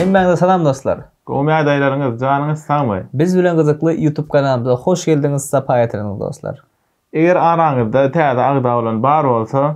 Hemmäňize salam dostlar. Gowy ýagdaýlaryňyz, janyňyz sagmy? Biz bilen gyzykly YouTube kanalymyza hoş geldiňiz, sapa getirdiňiz dostlar. Eger araňyzda täze agza bolan bar bolsa,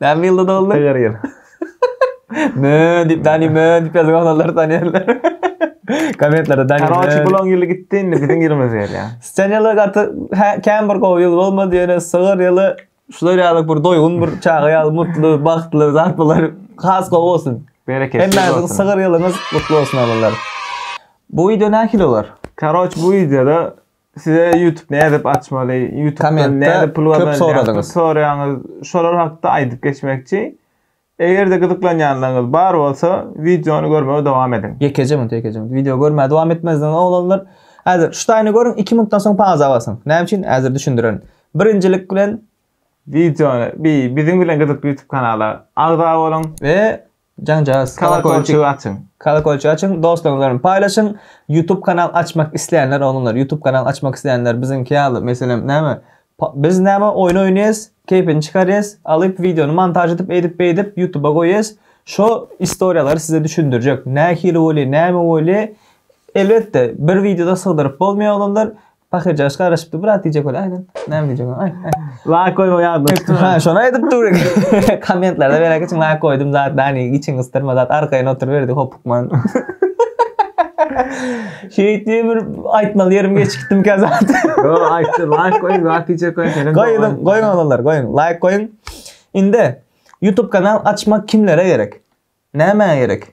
Näme ýylda doguldy? Her ýyl. Mö diýip, Dani mö diýip ýazan oglanlar tanýarlar. Kommentlerde Dani mö. Karoçi bulaň ýyly gitdi indi biziň ýylymyz gelýä. Sen ýyly gaty kän bir gowy ýyl bolmady ýöne sygyr ýyly şular ýaly bir doýgun bir çaga ýaly mutly bagtly zat bolar has gowy bolsun. Bereketli bolsun. Hemmäňiziň sygyr ýylyňyz gutly bolsun oglanlar. Bu wideo nähili bolar? Karoç bu wideoda Size YouTube nädip açmaly? YouTube nädip pul gazanýar? Soradyňyz. Soraýaňyz. Şolar hakda aýdyp geçmekçi. Eger-de gyzyklanýanlaryňyz bar bolsa, wideony görmegi dowam ediň. Ýekeje minut, ýekeje minut. Wideo görmäge dowam etmezden oglanlar. Häzir şu taýyny görüň, 2 minutdan soň pauza basyň. Näme üçin? Häzir düşündirerin. Birinjilik bilen wideony bi biziň bilen gyzykly YouTube kanala agza boluň we Jaňjagaz kolokolçygy açyň. Kolokolçygy açyň, dostlaryňyz bilen paýlaşyň. Youtube kanal açmak isleýänler oglanlar, Youtube kanal açmak isleýänler biziňki ýaly, meselem, näme, biz näme oýun oýnaýas, keýpini çykarýas, alyp wideony montaž edip, eýdip, beýdip Youtuba goýýas. Şo istoriýalary size düşündirjek. Nähili bolýar, näme bolýar? Elbetde, bir wideoda sygdyryp bolmaýar oglanlar. Pahyr jaş garaşypdy, brat diýjek bol, aýdan. Näme diýjek ol? Aý, aý. Laýk goýma ýadyna düşdü. Ha, şony aýdyp dur. Kommentlerde beräk üçin laýk goýdum zat, dani içiň ysdyrma zat, arkaýyn oturyberdi hopukman. Şeýit diýip bir aýtmaly ýerim geçikdim kä zat. Yo, aýtdy, laýk goýuň, zat diýjek goýuň, seniň. Goýuň, goýuň olanlar, goýuň, laýk goýuň. Indi YouTube kanal açmak kimlere gerek? Nämä gerek?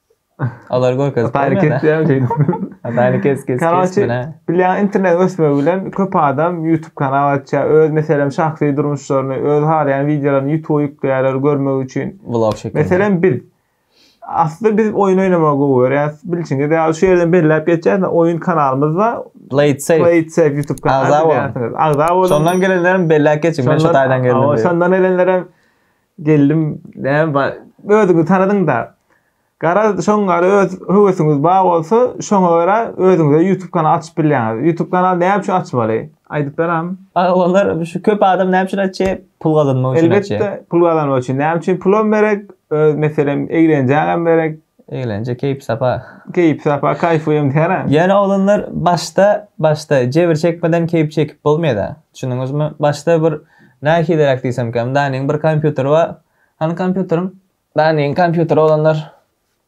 Olar görkezip Ataýly bermedi. kesýär şeýdip. Ataýly kes kes Karoçi, kesmene. bilýän internet ösmegi bilen köp adam YouTube kanal açýar. Öz meselem şahsy durmuşlaryny, öz halaýan wideolaryny YouTube ýükleýärler görmek üçin. Vlog şeklinde. Meselem biz. Aslynda biz oýun oýnamagy gowy görýäs. Bilşiňiz ýaly şu ýerden belläp geçýäs, oýun kanalymyz bar. Play it safe. Play it safe YouTube kanaly. Agza boluň. Agza boluň. Şondan gelenlerem belläp geçiň. Men şu Şondan- taýdan geldim Awa, diýip. Şondan gelenlerem Geldim näme bar özüňi tanadyňda. Garaz şoňňary öz höwesiňiz bar bolsa şoňa görä özüňize ýutub kanal açyp bilýäňiz. Ýutub kanal näme üçin açmaly? Aýdyp beräm. Aga olar şu köp adam näme üçin açýa pul gazanmak üçin açýa. Elbetde pul gazanmak üçin näme üçin pulam gerek öz meselem eglenjäňem gerek. Eglenje keýp sapa. Keýp sapa kaýfyýam diýära. Ýöne oglanlar başda başda jebir çekmeden keýp çekip bolmaýada. Düşündiňizmi? Başda bir Nähiliräk diýsemkäm, Danyň bir kompýuteri bar. Hany kompýuteriň? Danyň kompýuteri oglanlar.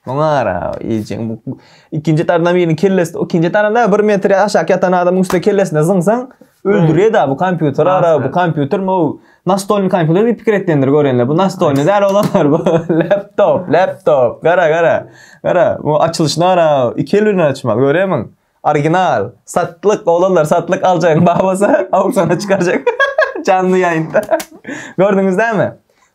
Muňa gara, eýjeň bu ikinji tardan biriniň kellesi, ikinji taranda bir metr aşak ýatan adamyň üstüne kellesine zyňsaň, öldürýär-de bu kompýuter ara, bu kompýutermi o, nastolnyý kompýuter diýip pikir etdendir görenler. Bu nastolnyý däl oglanlar bu, laptop, laptop, gara, gara, gara, bu açylyşyna gara, iki el bilen açmak, görýärmiň? Original. Satlyk oglanlar satlyk aljaň bar bolsa auksyona çykarjak. Janly ýaýynda. Gördüňiz dämi?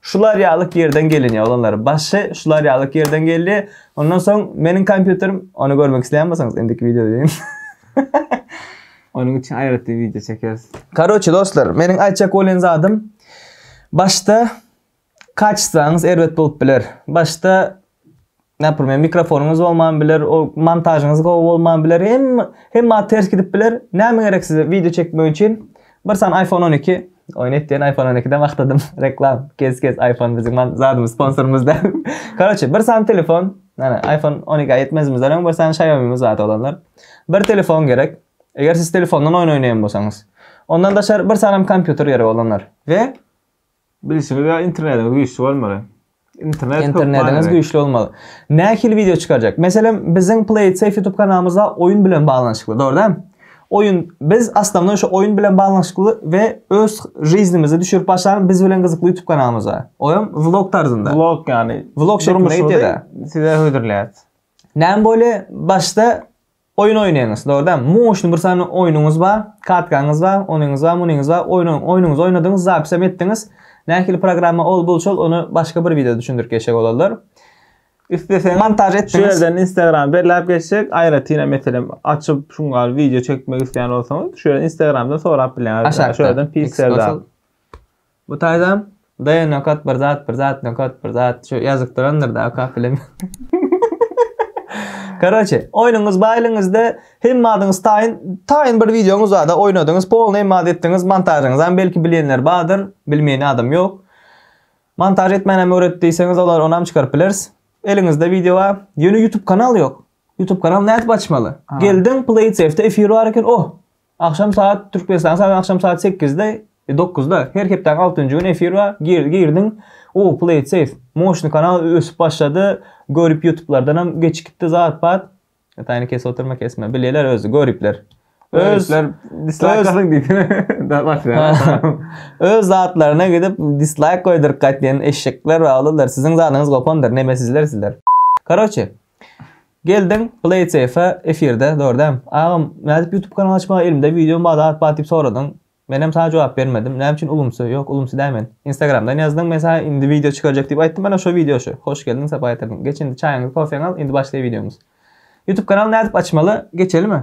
Şular ýalyk ýerden gelinýär oglanlar. Başy şular ýalyk ýerden geldi. Ondan soň meniň kompýuterim ony görmek isleýän bolsaňyz indiki wideo deýin. Onuň üçin aýratyn wideo çekeris. Karoçe dostlar meniň aýtjak bolýan zadym başda Kaçsaňyz erbet bolup biler. Başda Näpirmen mikrofonyňyz bolman biler, o montažyňyz gowy bolman biler. Hem hem ma ters gidip biler. Näme gerek size video çekmek üçin? Bir san iPhone 12. Oýun etdiýen iPhone 12-den wagtladym. Reklam. Kes kes iPhone biziň zadymyz sponsorymyz da. Koroçe, bir san telefon. Ana iPhone 12 aýtmazymyz da, bir san Xiaomi-miz bar olanlar. Bir telefon gerek. Eger siz telefondan oýun oýnaýan bolsaňyz. Ondan daşary bir sanam kompýuter gerek olanlar. We Bilişiňiz ýa internetiňiz güýçli bolmaly. Internet Internetiňiz güýçli bolmaly. Nähili wideo çykarjak? Meselem, biziň PlaySafe YouTube kanalymyzda oýun bilen baglanyşykly, dogry däl? Oýun biz aslynda şu oýun bilen baglanyşykly we öz żyznymyzy düşürip başlan biz bilen gyzykly YouTube kanalymyz bar. Oýam vlog tarzynda. Vlog ýany. Vlog şeklinde ýetýär. Size hödürläýär. Näme bolýar? Başda Oýun oýnaýyňyz, dogry dämi? Muň üçin bir sany oýnuňyz bar, kartkaňyz bar, onyňyz bar, munyňyz bar, oýnaň, oýnuňyzy oýnadyňyz, zapisem etdiňiz. Nähili programma ol, bul, şol, ony başga bir wideoda düşündirip geçjek olarlar. Isleseňiz, montaž etdiňiz. Şu ýerden Instagramy belläp geçjek, aýratynam, meselem, açyp, şuň ýaly wideo çekmek isleýän bolsaňyz, şu ýerden Instagramdan sorap bilýäňiz. Aşakda. Şu ýerden Pixel-da. Bu taýdan Daýa nokat bir zat bir zat nokat bir zat şu ýazykdyrandyr da okap bilemen. Karoçe, oýnuňyz baý eliňizde, hemme adyňyz taýyn, taýyn bir wideoňyz barda oýnadyňyz, polny hemme ady etdiňiz, montažyňyzam belki bilýänler bardyr, bilmeýän adam ýok. Montaž etmänäm öwret diýseňiz olar onam çykaryp bileris. Eliňizde wideo bar, ýöne ýutub kanal ýok. Ýutub kanal nädip açmaly? Geldiň Play TV-de efir bar eken, oh! Agşam saat Türkmenistan sagat agşam saat sekizde dokuzda her hepdäniň altynjy güni efir bar gir girdiň o play it save moşny kanal ösüp başlady görip ýutublardanam geçip gitdi zat bat taýyny kesip oturma kesme bilýäler özi göripler öz Göripler dislike galyň diýdi. Da başlaýar. öz zatlaryna gidip dislike goýduryp gaýtýan eşşekler bar olar siziň zadyňyz gopandyr nemesizler sizler karoçe Geldiň Playsafe efirde dogry dämi? Agam nädip YouTube kanal açmaga elimde video bar zat bar diýip soradyň. Menem saňa jogap bermedim. Näme üçin ulumsy? Ýok ulumsy däl men. Instagramdan ýazdyň men saňa indi video çykarjak diýip aýtdym ana şo video şu. Hoş geldiň sapa getirdiň. Geç indi çaýyňy kofeňi al indi başlaý videomyz. YouTube kanal nädip açmaly? Geçelimi?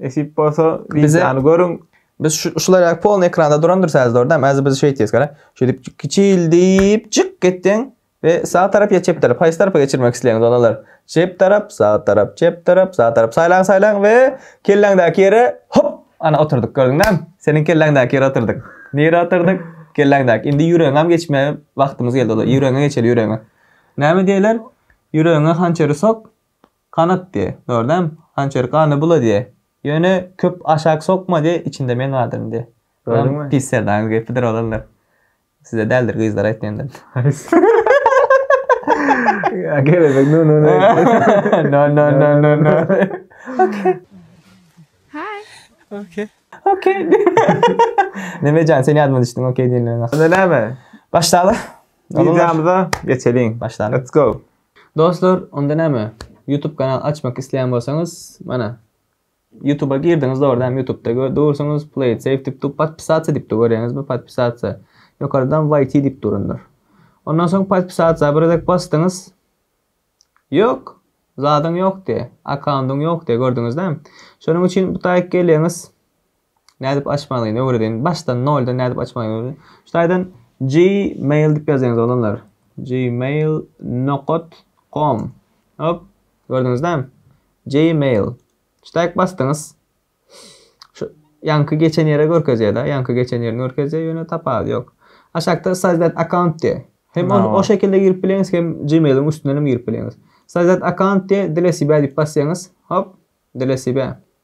Nesip bolsa wideony görüň. Biz şu şular ýaly polny ekranda duran dur säz dordam. Äzi biz şeýt diýes gara. Şeýdip kiçil diýip çyk gitdiň we sag tarap ýa çep tarap. Haýsy tarapa geçirmek isleýäňiz balalar? Çep tarap, sag tarap, çep tarap, sag tarap. Saýlaň saýlaň we kelläňdäki ýere hop ana oturdyk gördüň näme? Seniň kelläňdäki ýere oturdyk. Nire oturdyk? Kelläňdäki. Indi ýüregiňem geçme wagtymyz geldi. Ýüregiňe geçeli ýüregiňe. Näme diýler? Ýüregiňe hançeri sok. Kanat diýe, gördäm, hançer gany bula diýe. Ýöne köp aşak sokma diýe, içinde men gadyryn diýe. Gördüňmi? Pis serdaryň gepidir oglanlar. Size däldir gyzlar aýtýandyr. Ýa kelebek no no no. No no no no no. Okey. Hi. Okey. Okey. Neme jan sen ýadyma düşdüň okey diýenleriň. Onda näme? Başdaly. Wideomyza geçeliň. Başdaly. Let's go. Dostlar onda näme YouTube kanal açmak isleýän bolsaňyz mana YouTube'a girdiňiz dogry dämi YouTube'da gör dursuňyz play it safe dip dur podpisatsa dip dur görýäňizmi podpisatsa ýokardan YT dip durundyr. Ondan soň podpisatsa bir gezek basdyňyz ýok zadyň ýok diýe akkaundyň ýok diýe gördüňiz dämi şonuň üçin bu taýyk gelýäňiz Nädip açmalyny öwredin. Başdan noldan nädip açmalyny öwredin. Şu taýdan gmail dip ýazýaňyz oglanlar. Gmail nokat com. Hop. Gördüňizde? Gmail. Şu taýk basdyňyz. Şu ýanky geçen ýere görkezýär da. Ýanky geçen ýerini görkezýär. Ýöne tapaz ýok. Aşakda sozdat account diýär. Hem ony o şekilde girip bileňiz hem gmailiň üstünden hem girip bileňiz. Sozdat account diýär. Dile sibe dip basýaňyz. Hop. Dile sibe.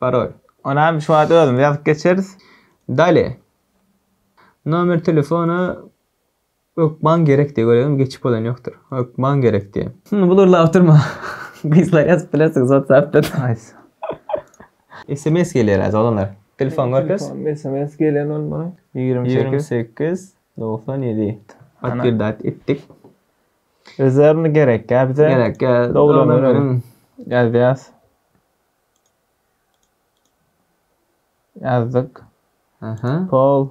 Parol. Onam şu wagt özümiz ýazyp geçeris. Dale. Nomer telefona ökman gerekdi, görýäňmi, geçip bolan ýokdur. Ökman gerekdi. Hum, bulurlap oturma. Gyzlar ýazyp bilersiňiz WhatsApp-dan. Haýsy? Sms gelýär-ä, doganlar. Telefon görkez. Telefon sms gelýän bolmaly. Ýigrimi sekiz. Ýigrimi sekiz, dogsan ýedi. Podtwerdät etdik. Özlerine gerek-ä bize. Gerek-ä. Doglan günüň. Ýazýas. Ýazdyk. Aha. Pol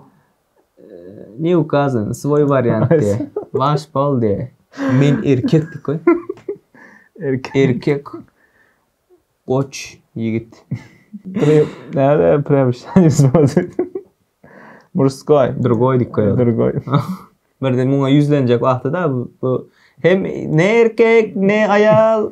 ne ukazan, svoý wariant diýe. Waş pol diýe. Men erkek diýip goý. Erkek. Erkek. Goç, ýigit. Prem, näde prem şaýyz boldy. Murskoý. Drugoý diýip goý. Drugoý. Birde muňa ýüzlenjek wagty-da bu hem ne erkek, ne aýal.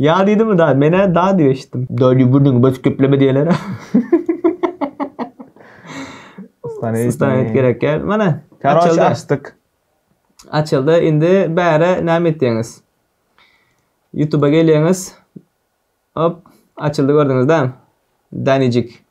Ýa diýdimi da, men-ä da diýip eşitdim. Da diýip gürrüňi bösüp gepleme diýerler. Sustanýet gerek ýer. Mana, açyldy. Açdyk. Açyldy. Indi bäri näme etýäňiz? YouTube-a gelýäňiz. Hop, açyldy gördüňiz-dä. Danijik.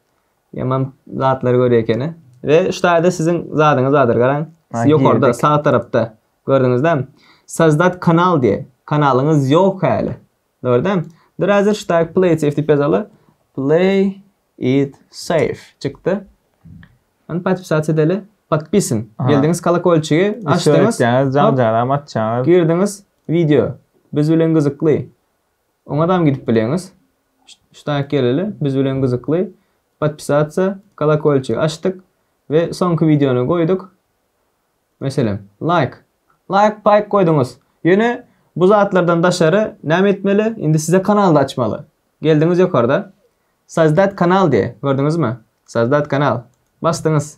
Ýaman zatlar görýär ekeni. Ve şu taýda siziň zadyňyz bardyr garaň. Siz ýokarda sag tarapda gördüňizdämi? Sozdat kanal diýe. Kanalyňyz ýok häli. Gördem? Dur häzir şu taýda play it safe diýip ýazaly. Play it safe çykdy. Ony podpisat edeli. Podpisin. Geldiňiz kolokolçigi açdyňyz. Jan janam atjaňyz. Girdiňiz video. Biz bilen gyzykly. Oňadam gidip bileňiz. Ştaýk geleli biz bilen gyzykly podpisatsa kolokolçigi açdyk we soňky wideony goýduk meselem laýk laýk paýk goýduňyz ýöne bu zatlardan daşary näme etmeli indi size kanalda açmaly geldiňiz ýokarda sozdать kanal diýe gördüňizmi sozdать kanal basdyňyz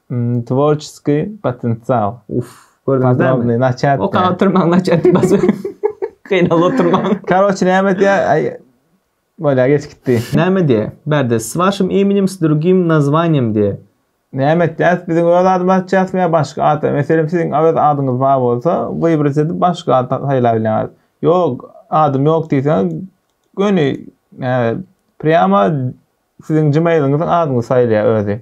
Tworçeskiý potensial. Uf. Gördüňizmi? Naçat. Oka oturmaň naçat bas. Gynal oturmaň. Karoç näme diýä? Ay. Bolýa geç gitdi. Näme diýä? Bärde s waşym imenim s drugim nazwaniýem diýä. Näme etjäs? Biziň öz adymyzy açýasmy ýa başga at? Meselem siziň öz adyňyz bar bolsa, wybrat edip başga at saýlap bilýäňiz. Ýok, adym ýok diýseňiz, göni näme, prýama siziň gmailiňiziň adyňyzy saýlaýar özi.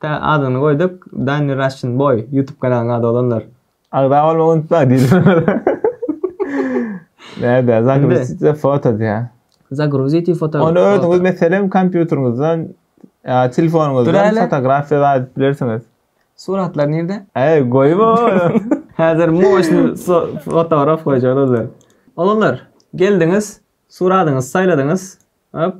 Tä adyny goýduk Danny Russian boy YouTube kanalynyň ady bolanlar. Agza bolmagy unutma diýildi. Nädä zagruzitde foto diýä. Zagruziti foto. Ony özüňiz meselem kompýuteriňizden ýa telefonyňyzdan fotografiýa zat edip bilersiňiz. Suratlar nirde? Äý goýma ony. Häzir moşny fotograf goýjak olar. Oglanlar geldiňiz suradyňyzy saýladyňyz. Hop.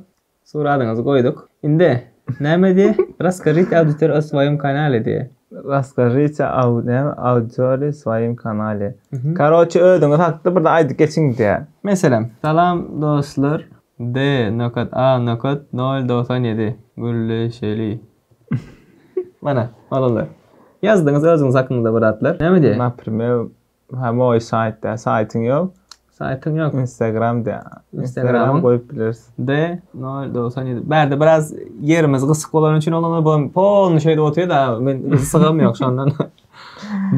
Suradyňyzy goýduk. Indi näme diýe? Raskažite auditor o swoýom kanale diýe. Raskažite au näme auditory swoýom kanale. Karoçe özüňiz hakda birde aýdyp geçiň diýe. Men selam. Salam dostlar D nokat A nokat nol dogsan ýedi gürleşeli. Mana, oglanlar. Ýazdyňyz özüňiz hakyňyzda bir zatlar. Näme diýe? Naprimer Ha moý saýt dä, saýtyň ýok. Saýtyň ýok. Instagram dä. Instagram goýup bileris. D 097. Bärde biraz ýerimiz gysyk bolany üçin onuň bu pol şeýle otýar-da, men sygam ýok şondan.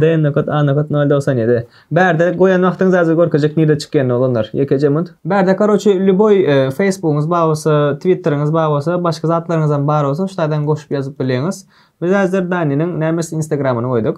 D nokat A nokat 097. Bärde goýan wagtyňyz hazir görkezjek nirde çykýanyny oglanlar. Ýekeje munt. Bärde karoçi lýuboý Facebookyňyz bar bolsa, Twitteriňiz bar bolsa, başga zatlaryňyzam bar bolsa, şulardan goşup ýazyp bilýäňiz. Biz hazir Daniniň nämes Instagramyny goýduk.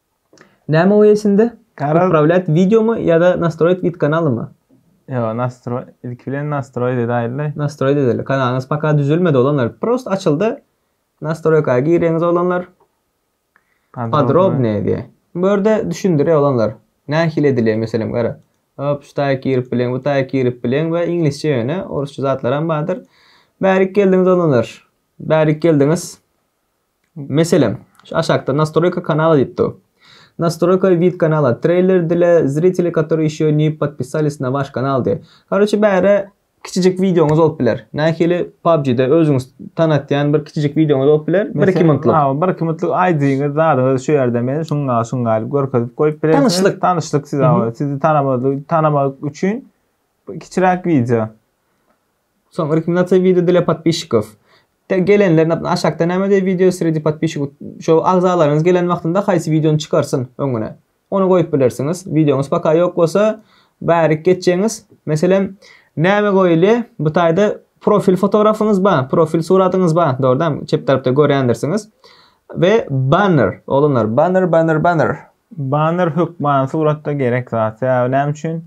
Näme goýaý içinde? Garaz- Upravlýat wideomy ýa-da nastroýit wid kanalymy? Ýok, nastroý, ilki bilen nastroý edäýeli. Nastroýit edeli. Kanalyňyz paka düzülmedi oglanlar. Prost açyldy. Nastroýka gireňiz oglanlar. Podrobnyýe diýýär. Bu ýerde düşündirýär oglanlar. Nähili edilýär meselem gara. Hop, şu taýy girip bileň, bu taýy girip bileň we iňlisçe ýöne, orsça zatlaram bardyr. Bärik geldiňiz oglanlar. Bärik geldiňiz. Meselem, şu aşakda Nastroýka kanala diýip dur. Nastroýka vid kanala, treýler dile, zriteli katori ýeşo ni podpisaliz na waş kanal diýip. Karoçe bärä kiçijik wideoňyz bolup biler. Nähili PUBG-de özüňiz tanatýan bir kiçijik wideoňyz bolup biler, bir iki minutlyk. Hawa, bir iki minutlyk aýdyňyz, zadyňyzy şu ýerde men şuňa şuňa gaýlyp görkezip goýup bilersiňiz. Tanyşlyk. Tanyşlyk size, sizi tanamaly, tanamak üçin kiçiräk wideo. Soň rekmendasiýa wideo dla podpisçikow. Te gelenler nap aşakda näme diýip wideo sredi podpisçikow. Şo agzalaryňyz gelen wagtynda haýsy wideony çykarsyn öňüne. Ony goýup bilersiňiz. Wideoňyz paka ýok bolsa bärik geçjeňiz. Meselem näme goýulýa bu taýda profil fotografyňyz ba, profil suratyňyz ba, dogrudan çep tarapda görýändirsiňiz. We banner, oglanlar banner banner banner. Banner hökman suratda gerek zat. Sebäbi näme üçin?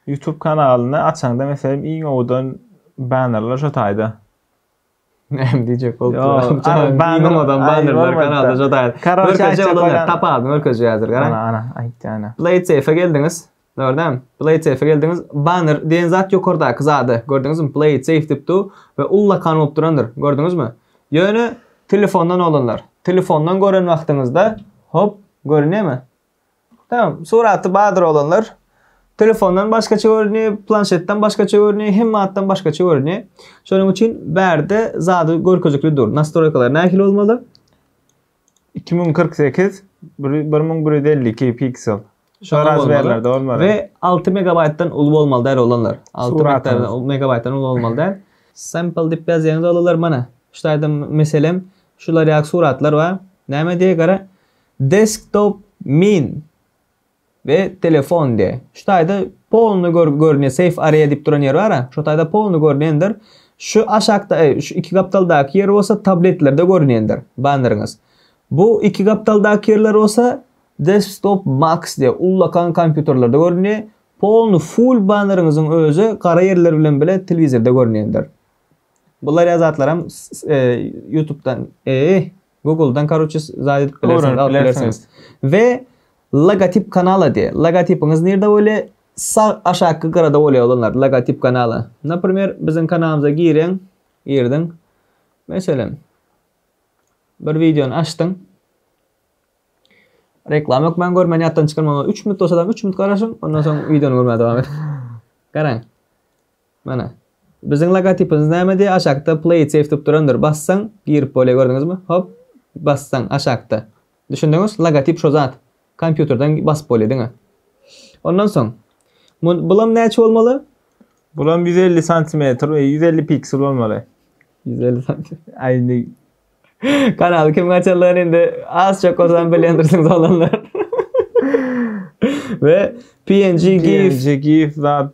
Youtube kanalyny açaňda meselem iň owudan bannerler şo taýda. Näme diýjek bolup duraryn. Ara banner adam bannerler kanalda şo taýda. Karoçe aýtjak bolan tapalym görkezýär häzir garaň. Ana ana aýtdy ana. Play safe geldiňiz. Dogrydan. Play safe geldiňiz. Banner diýen zat ýokardaky zady. Gördüňizmi? Play safe diýip dur we ullakan bolup durandyr. Gördüňizmi? Ýöne telefondan olanlar. Telefondan gören wagtyňyzda hop görünýärmi? Tamam, suraty badyr oglanlar. Telefondan başgaça görünýär, planşetden başgaça görünýär, hemme zatdan başgaça görünýär. Şonuň üçin bärde zady görkezikli dur. Nastroýkalar nähili bolmaly? 2048 1152 piksel. Şoňa Şoraz bolmaly. berlerde bolmaly. We 6 megabaýtdan uly bolmaly däl oglanlar. 6 Suratyň. megabaýtdan- megabaýtdan uly bolmaly däl. Sample diýip ýazýaňyz oglanlar mana. Şu taýda meselem şular ýaly suratlar bar. Näme diýýär gara? Desktop min we telefon diýe. Şu taýda polny gör görünýär safe area diýip duran ýer bara. Şu taýda polny görünendir. Şu aşakda e, şu iki gapdaldaky ýer bolsa tabletlerde görünendir banneriňiz. Bu iki gapdaldaky ýerler bolsa desktop max diýe ullakan kompýuterlerde görünýär. Polny full banneriňiziň özi gara ýerler bilen bile telewizorda görünendir. Bular ýa zatlaram e, YouTube'dan e, Google'dan karoçe zaýdyp bilersiňiz, alyp bilersiňiz. We logotip kanala diýe. Logotipiňiz nirde bolýa? Sag aşakky gyrada bolýa olanlar logotip kanala. Naprimer, biziň kanalymyza gireň, girdiň. Meselem, bir wideony açdyň. Reklama ýok, men görmän ýatdan çykarmaň. 3 minut bolsa da 3 minut garaşyň, ondan soň wideony görmäge dowam ediň. Garaň. Mana. Biziň logotipimiz nämedi? Aşakda play it save tutup durandyr. Bassaň girip bolýar gördüňizmi? Hop. Bassaň aşakda. Düşündiňiz? Logotip şo zat. Kompýuterden basyp bolýar diňe. Ondan soň bulam näçe bolmaly? Bulam 150 santimetr, 150 e, piksel bolmaly. 150 santimetr. Ay indi kanaly kim açanlar indi az çok olsam bilendirsiniz olanlar. Ve PNG GIF. PNG GIF zat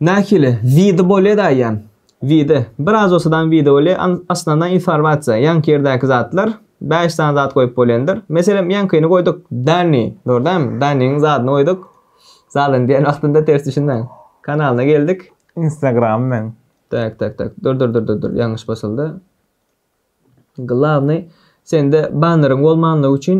Nähili, wide bolýa daýýan. Wide. Bir azosadan wide bolýa, an, asnana informasiýa, ýaňky ýerdäki zatlar, bäş sany zat goýup bolýandyr. Meselem, ýaňkyny goýduk, Danny, dogry dälmi? Dannyň zadyny goýduk. Zalyny diýen wagtynda ters düşünmäň. Kanalyna geldik. Instagram men. Tak, tak, tak. Dur, dur, dur, dur, dur. Ýalňyş basyldy. Glawny sende banneryň bolmanlygy üçin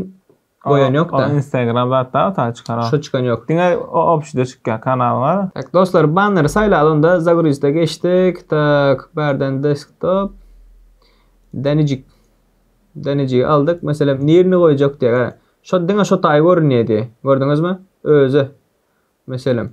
goýan ýokda. Ol instagram zat da ota çykar. Şu çykan ýok. Diňe opşyda çykýar kanalyňa. Tak dostlar banneri saýlaly onda zagruziýte geçdik. Tak bärden desktop. Dänejik. Dänejigi aldyk. Meselem nirni goýjak diýek hä. Şo diňe şo taýy görünýedi. Gördüňizmi? Özi. Meselem.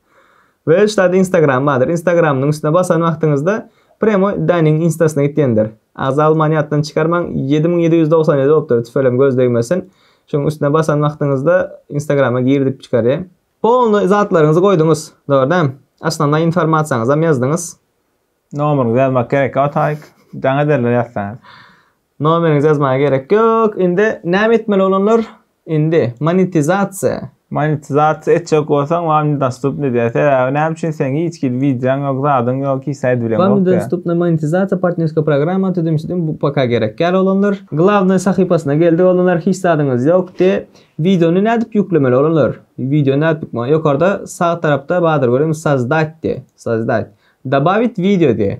Ve şu taýda instagram bardyr. Instagramynyň üstüne basan wagtyňyzda premo Danyň instasyna gitýändir. Agza almany ýatdan çykarmaň ýedi müň ýedi ýüz dogsan ýedi bolupdyr tüfelem göz degmesin. Şuň üstüne basan wagtyňyzda instagrama gir diýip çykarýa. Polny zatlaryňyzy goýduňyz. Dogry däm. Osnovnaý informasiýaňyzam ýazdyňyz. Nomeryňyzy ýazmak gerek ýotaýk. Jaň ederler ýazsaňyz. Nomeriňizi ýazmaga gerek ýok. Indi näme etmeli olanlar? Indi monetizasiýa. Monetizasiýa etjek bolsaň wam nedostupny diýer. Sebäbi näme üçin seň hiç hili wideoň ýok, zadyň ýok, hiç saýt bileň ýok. Wam nedostupny monetizasiýa partnerska programma tüzüm şüdüm bu paka gerek däl olanlar. Glawnoý sahypasyna geldik olanlar hiç zadyňyz ýok de. Wideony nädip ýüklemeli olanlar? Wideony nädip ýükme ýokarda sag tarapda bardyr görüňiz sozdate de sozdate. Dobawit wideo de.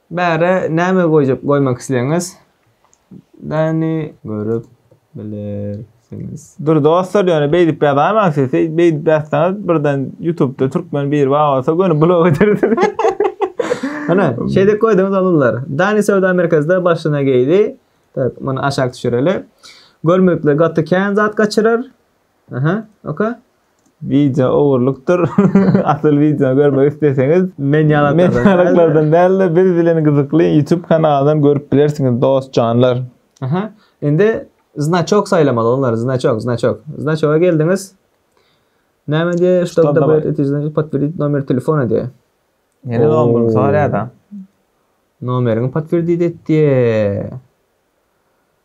Bärä näme goýjak goýmak isleýäňiz däni görüp bilersiňiz. Dur dostlar ýöne beýdip ýazaýmaň siz beýdip ýazsaňyz birden ýutubda türkmen biri bar bolsa göni blok edersiňiz. Ana şeýdip goýduňyz oglanlar. Dani söwda merkezde başyna geýdi. Tak muny aşak düşüreli. Görmekle gaty kän zat gaçyrar. Aha, oka. Wideo ogurlykdyr. Asyl wideo görmek isleseňiz, men ýalaklardan dälde biz bilen gyzykly YouTube kanalyndan görüp bilersiňiz dost janlar. Aha, indi znaçok saýlamaly onlary, znaçok, znaçok. Znaçoga geldiňiz. Näme diýe, ştob da beret etiş znaçok, potwerdit nomer telefona diýe. Ýene zon bolup sorýada. Nomeriňi potwerdit et diýe.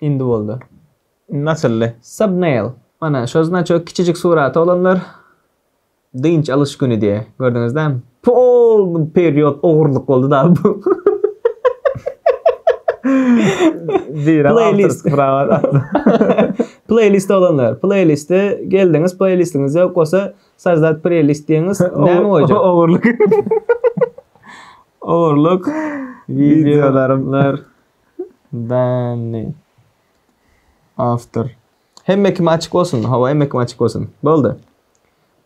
Indi boldy. Indi açyldy. Subnail. Mana şo znaçok kiçijik suraty olanlar dynç alyş güni diýe. Gördüňiz dämi? Polny period ogurlyk boldy da bu. Birem awtorski prawa satdy. Pleýlist olanlar. Pleýliste geldiňiz, pleýlistiňiz ýok bolsa Sajdat Preýlist diýiňiz. Näme goýjak? Ogurlyk. Ogurlyk. Wideolarymlar. Danny. Awtor. Hemme kime açyk bolsun. Hawa, hemme kime açyk bolsun. Boldy.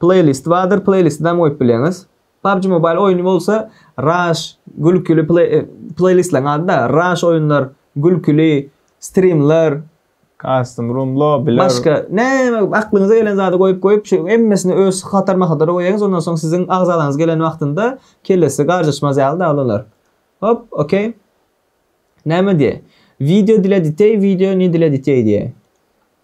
Playlist bardyr, playlist dam goýup bileňiz. PUBG Mobile oýny bolsa Rush gülküli play e, playlistlaň ady-da Rush oýunlar, gülküli streamler, Custom room lobbyler. Başka näme aklyňyza gelen zady goýup goýup şu hemmesini öz hatar mahatara goýaňyz ondan soň siziň agzalaňyz gelen wagtynda kellesi garjaşmaz ýaly da olar. Hop, okey. Näme diýýär? Wideo dile diteý, wideo ne dile diteý diýýär.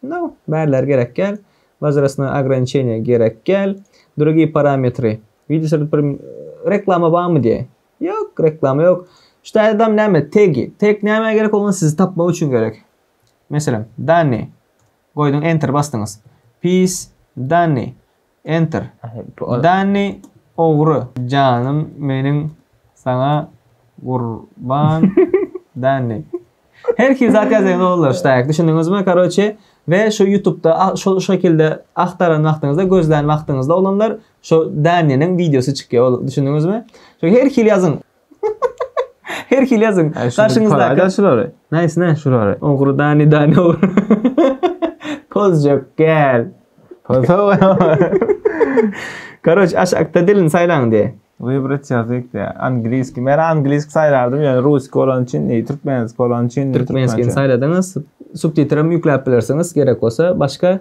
No, bärler gerek gel. Wozrastnoý ograniçeniýa gerek gel. Drugiý parametry. Wideo sürüp bir reklama barmy diýýär. Ýok, reklama ýok. Şu taýdam näme? Tegi. Teg nämä gerek? Ol sizi tapmak üçin gerek. Meselem, dani. Goýduň, enter basdyňyz. Pis, dani. Enter. Danny ogry. Janym meniň saňa gurban Danny. Her hil zat ýazýan oglanlar ştaýk düşündiňizmi karoçe we şu ýutubda şol şekilde agtaran wagtyňyzda gözlän wagtyňyzda oglanlar şo Dannynyň wideosy çykýar ol düşündiňizmi? Şo her hil ýazyň. Her hili ýazyň. Garşyňyzdaky. Aýda şulary. Näsi näsi şulary? Ogry dani dani ogry. Pozjak gel. Pozow. Karoç aşakda dilini saýlaň diýe. Wybrat ýazyk diýe. Angliski. Men angliski saýlardym, ýöne ruski bolan üçin, e, türkmenski bolan üçin. Türkmenskini saýladyňyz. Subtitrem ýükläp bilersiňiz gerek bolsa. Başga?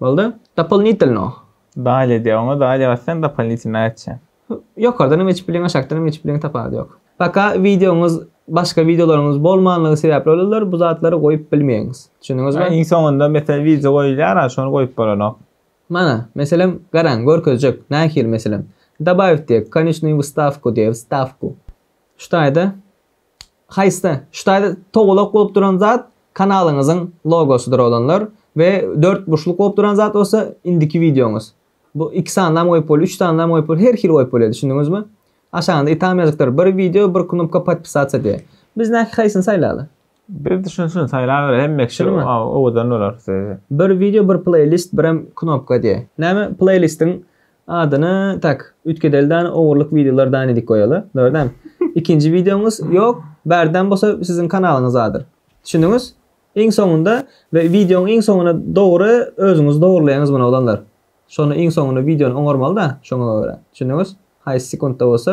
Boldy. Dopolnitelno. Dalýa diýýär. Oňa dalýa basýan dopolnitelno açýar. Ýokardan hem geçip bileň aşakdan hem geçip bileň tapawudy ýok. Paka wideoňyz başga wideolaryňyz bolmanlygy sebäpli bolýar bu zatlary goýup bilmeýäňiz. Düşündiňizmi? Iň soňunda meselem wideo goýulýar a şony goýup bolanok. Mana meselem garaň görkezjek nähili meselem. Dabawit diýek, konecnýu wstawku diýek wstawku. Şu taýda. Haýsy? Şu taýda togalak bolup duran zat kanalyňyzyň logosydyr oglanlar we dört burçluk bolup duran zat bolsa indiki wideoňyz. Bu iki sanynam goýup boldy, üç sanynam goýup boldy, her hili goýup bolýar düşündiňizmi? Aşagyňda itam ýazypdyr, bir wideo, bir knopka podpisasiýa diýe. Biz näki haýsyny saýlaly? Biz düşüni şuny saýlabereýin, hemme kişi Şunymy? owadan bolar. Bir wideo, bir pleýlist, birem knopka diýe. Näme pleýlistiň Adyny tak üýtgedeli dany ogurlyk wideolar dany dik goýaly dogrydan ikinji wideoňyz ýok bärden bolsa siziň kanalyňyz adyr düşündiňiz iň soňunda we wideoň iň soňuna dogry özüňiz dogrylaýaňyz muny oglanlar şony iň soňuna wideony oňarmalyda şoňa görä düşündiňiz haýsy sekuntda bolsa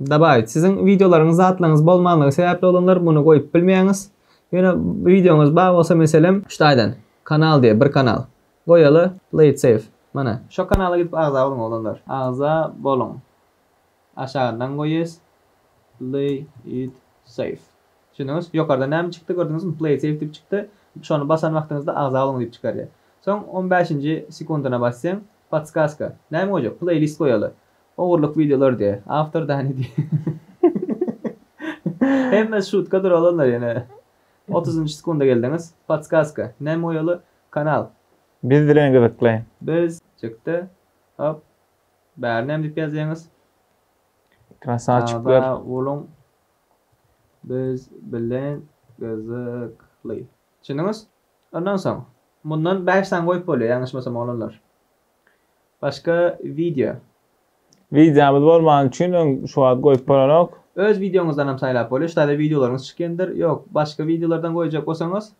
Dabaýyt siziň wideolaryňyz zatlaryňyz bolmanlygy sebäpli olanlar muny goýup bilmeýäňiz. Ýöne wideoňyz bar bolsa meselem. Ştaýdan kanal diýe bir kanal goýaly play it safe mana. Şo kanala gidip agza boluň oglanlar. Agza boluň aşagyndan goýýas play it safe düşündiňiz ýokarda näme çykdy gördüňizmi play it safe diýip çykdy şony basan wagtyňyzda agza boluň diýip çykarýar soň on bäşinji sekundyna basýaň podskazka näme goýjak playlist goýaly Ogurlyk videolar diýe. Awtor dany diýe. Hemme şutka dur olanlar ýene. Otuzynjy sekunda geldiňiz. Podskazka. Näme oýaly kanal. Biz bilen gyzykly. Biz çykdy. Hop. Bäri näme diýip ýazýaňyz. Krasawçyklar. Sag boluň. Biz bilen gyzykly. Düşündiňiz? Ondan soň. Mundan bäş sany goýup bolýar ýalňyşmasam oglanlar. Başga wideo. Wideomyz bolmany üçin öň şu wagt goýup bolanok. Öz wideoňyzdanam saýlap bolýar. Şutaýda wideolaryňyz çykýandyr. Ýok, başga wideolardan goýjak bolsaňyz.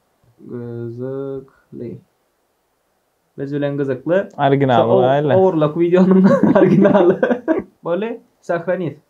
Gyzykly. Biz bilen gyzykly. Originaly goýaýly. Ogurlyk wideonyň originaly. Boldy, sahranit.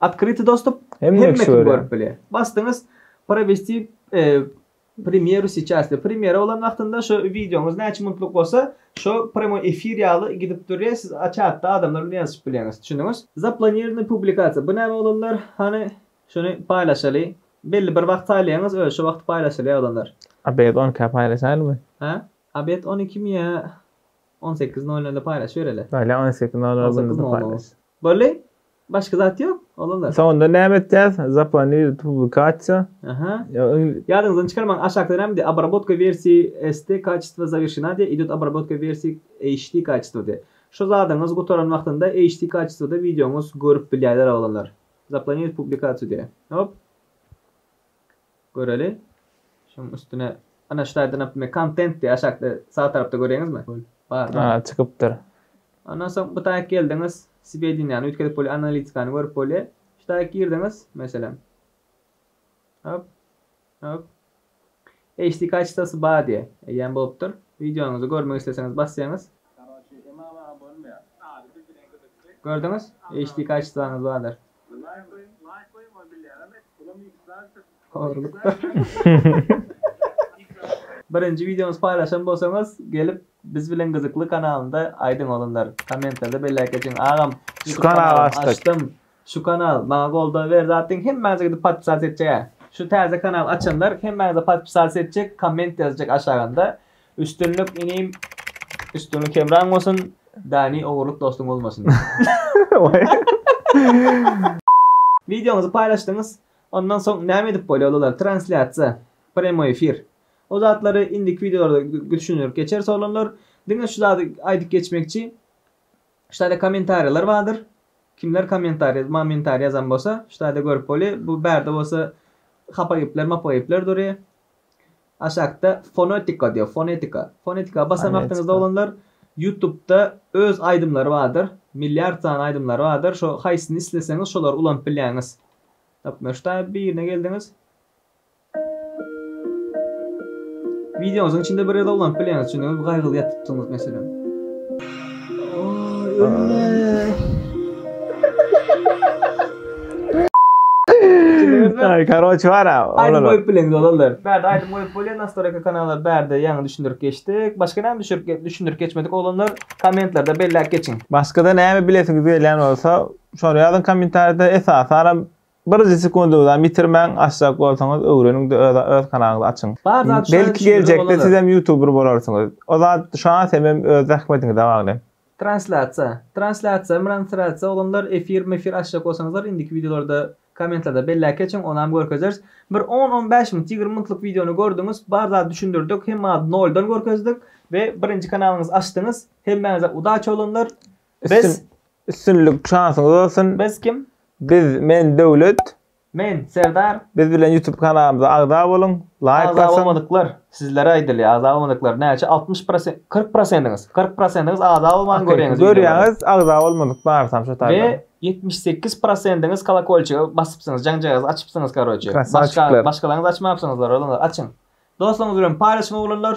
Otkryty dostup, hemme kim görüp bilýär. Basdyňyz Provesti premýeru seiças diýip. Premýera bolan wagtynda şo wideoňyz näçe minutlyk bolsa, şo premýoý efir ýaly gidip durýar, siz çatda adamlar bilen ýazyşyp bilýäňiz. Düşündiňiz? Zaplonirowany publikasiýa. Bu näme oglanlar? Hany şuny paýlaşaly. Belli bir wagt saýlaýaňyz, özi şo wagt paýlaşylýar oglanlar. Obed on ikä paýlaşaýlymy? Hä? Obed on ikimi ýa on sekiz nol nole paýlaşybereli? Ýa on sekiz nol nol gündizem paýlaş. Bolly, başga zat ýok, oglanlar. Soňunda näme etýäs? Zaplanirowt publikasiýa. Aha. Ýadyňyzdan çykarmaň, aşakda näme diýýär? Obrabotka wersiýi ST kaçestvo zawirşena diýýär, idýot obrabotka wersiýi HD kaçestvo diýýär. Şu zadyňyz gutaran wagtynda HD kaçestwoda wideoňyz görüp bilýärler, oglanlar. Zaplanirowt publikasiýa diýýär. Hop. Göreli. Şuň üstüne ana şu taýdan naprimýer kontent diýip aşakda sag tarapda göreňizmi? Bar da. A çykypdyr. Ondan soň bu taýa geldiňiz swedeniýany üýtgedip bolýar analitikany görüp bolýar. Şu taýa girdiňiz meselem. Hop. Hop. HD kaçtosy bar diýe. Eýýäm bolupdyr. Wideonyzy görmek isleseňiz basýaňyz. Gördüňiz? HD kaçtosaňyz bardyr. Birinji wideomyzy paýlaşan bolsaňyz gelip biz bilen gyzykly kanalynda aýdyň oglanlar kommentlerde belläp geçiň agam şu kanaly açdym şu kanal maňa goldaw berdi atyň hemmäňize gidip podpisas etjek hä şu täze kanal açanlar hemmäňize podpisas etjek komment ýazjak aşagynda Üstünlik inim Üstünlik hemraň bolsun Dani ogurlyk dostuň bolmasyn. Wideoňyzy paýlaşdyňyz ondan soň näme edip bolýalylar translýasiýa premoý efir o zatlary indiki wideolarda gdüşinirip geçeris oglanlar diňe şu zady aýdyp geçmekçi şu taýda kommentariýalar bardyr kimler kommentariýa momentariýa ýazan bolsa şu taýda görüp bolýa bu bärde bolsa hapa gepler mapa gepler durýa Aşakda Fonetika diýýär, Fonetika. Fonetika basan wagtyňyzda oglanlar Ýutubda öz aýdymlary bardyr. Milliard sany aýdymlary bardyr. Şo haýsyny isleseňiz şolary ulanyp bilýäňiz. Tapmyşdaý birine geldiňiz. Wideoňyzyň içinde bir ýerde ulanyp bilýäňiz. Düşündiňizmi? Gaýgyly ýatypsyňyz meselem. Ay karoç var ha. Aýdym goýup bileňiz olarlar. Bärde aýdym goýup bolýar nastoraka kanala bärde ýaňy düşündirip geçdik. Başga näme düşürip düşündirip geçmedik oglanlar kommentlerde belläp geçiň. Başgada näme bilesiňiz gelýän bolsa şony ýazyň kommentariýada esasara Birje sekundyňyzam ýitirmäň, açjak bolsaňyz öwreniňde öz öz kanalyňyzy açyň. Belki geljekde sizem ýutuber bolarsyňyz. O zat şa semem öz zähmetiňize bagly. Translasiýa Translasiýa mranslasiýa oglanlar efir mefir açjak bolsaňyzlar indiki wideolarda kommentlarda belläp geçiň onam görkezeris bir on on bäş minut ýigrimi minutlyk wideony gördüňiz bar zady düşündirdik hemma zady noldan görkezdik we birinji kanalyňyzy açdyňyz hemmäňize udaçi oglanlar Biz üstünlik şansyňyz bolsun. Biz kim? Biz men Döwlet. Men Serdar. Biz bilen YouTube kanalymyza agza boluň. Laýk basyň. Agza bolmadyklar sizlere aýdylýar. Agza bolmadyklar näçe 60 prosent 40 prosentiňiz. 40 prosentiňiz agza bolman görýäňiz. Görýäňiz agza bolmadyk barsam şu taýda. We 78 prosentiňiz kolokolçygy basypsyňyz. Jaňjagyzy açypsyňyz karoçe. Başga başgalaryňyz açmapsyňyzlar olanlar açyň. Dostlaryňyz bilen paýlaşyň oglanlar.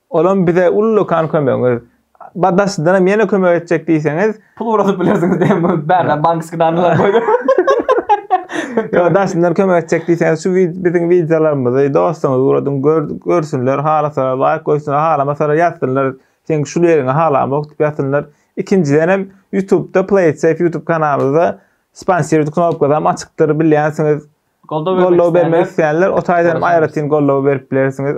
Olam bize ullakan kömegiňiz. Ba daşydanam ýene kömek etjek diýseňiz. Pul ugradyp bilersiňiz diýen bu bärde bankiski danylar goýdum. Ýok daşyndan kömek etjek diýseňiz şu biziň wideolarymyzy dostuňyza ugradyň görsünler halasalar laýk goýsunlar halamasalar ýazsynlar seň şul ýeriňi halamok diýip ýazsynlar. Ikinjidenem ýutubda playitsafe ýutub kanalymyzda sponsirit knopkasyam açykdyr bilýänsiňiz goldaw bermek isleýänler o taýdanam aýratyn goldaw berip bilersiňiz.